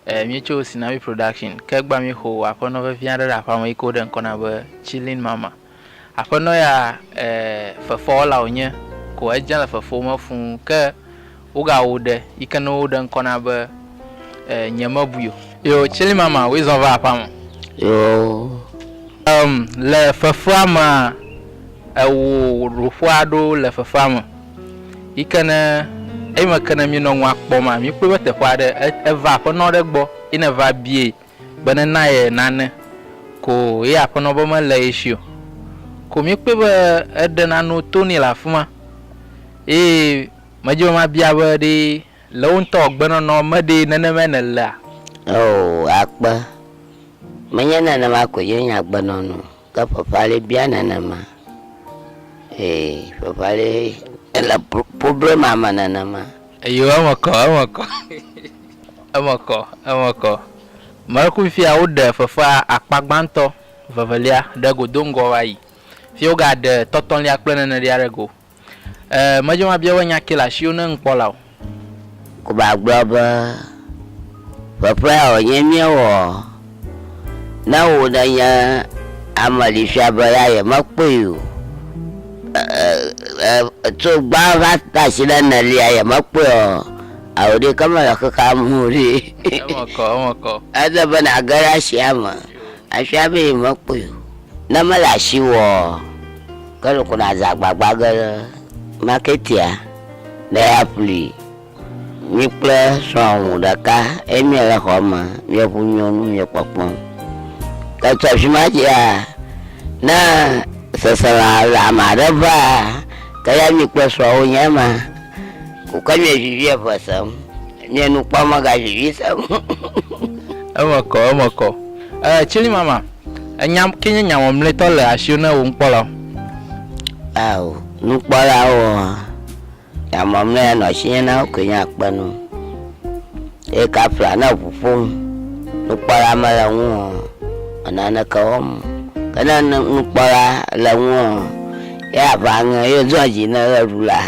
E Míetso Sinawi Production ke egbea míexo aƒenɔ vevi aɖe ɖe aƒea me yi ke woɖe ŋkɔ na be Chilling Mama. Aƒenɔ ya e fefewɔla wònye ko edze le fefe me fũ ke wogawɔ ɖe yi ke ne woɖe ŋkɔ na be e Nyemebui o. Yo Chilling Mama woe zɔ va aƒea me. Yoo. Em le fefea mea ewɔ ɖoƒe aɖewo le fefea me. Yi ke ne eyime ke ne míenɔ nua kpɔm a, míekpɔe be teƒe aɖe eva aƒenɔ ɖe gbɔ ye ne va biae be ne na ye nane ko ye aƒenɔ be mele ye si o. Ko míekpɔe be eɖe nanewo to nɛ le afi ma. Eye medi be mabia be ɖe le wo ŋutɔ agbenɔnɔ me ɖee nenemae nèlea? Oo, akpe. Menye nenema koe ye nye agbenɔnɔ o. Ke fafali bia nenema. Ee, fafali ele problema me nenema. Eyo eme kɔ, eme kɔ. Eme kɔ, eme kɔ. Mlekui fia woɖe fefe akpa gbãtɔ, vevelia ɖe go do ŋgɔ va yi. Fia wogaɖe tɔtɔlia kple nenelia ɖe go. E, medze mabia wò nya ke le asiwò ne ŋkpɔ la o. Kuba gblɔ be, Ƒeƒea wònye míewɔ. Ne wò nènye ame li fia be ya yemekpɔe o. E, e, tso gbã va tasi ɖe enelia yemekpɔe o. Ao ɖeke mele xexea me o ɖi. Eme kɔ, eme kɔ. Ele be nàge ɖe asia me afia be yemekpɔe o. Ne mele asi wò ɔ, ke nu ko nàza agbagba ge ɖe maketea be yeaƒli mi kple srɔ̃wò ŋu ɖeka eye miele xɔ me mieŋu nyo nu miekpɔkpɔm. Ke tso afi ma dzia, ne seselelãme aɖe vaa, ke ya mi kple srɔ̃wò nye ema ko ke mievivi eŋe sem, mie nu kpɔm megavivi sem o. Eme kɔ, eme kɔ. Ee, Tsilimama, Enya ke nye nya mamlɛtɔ le asiwò na wò nukpɔlawo. Ao, nukpɔlawo hã, nya mamlɛ ya nɔ asinye na wo koe nye akpe nu. Eye kafla ne eŋu ƒom, nukpɔla mele ŋu o, enaneke wɔm o. Ke ne nukpɔla le ŋu o, ye aʋa aŋe ye zɔa dzi ne ʋe ɖu la.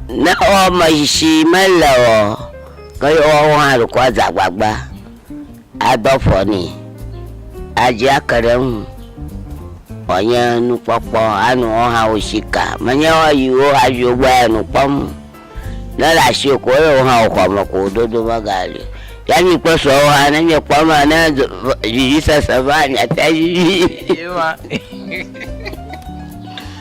Ne wɔmetsitsi mele ɔ, ke ye woawo hã ɖeko adze agbagba adɔ ƒɔ nɛ, adzi ake ɖe eŋu wòanye nukpɔkpɔ anu wo hã wo si ka. Menye woayiwo hadziwo gbɔ ya nu kpɔm o. Ne le asiwò ko ye wo hã wo xɔ me ko wò dodo megali o. Ya nyi kple srɔ̃wò hã ne miekpɔ ema ne vivisese va miate vivi.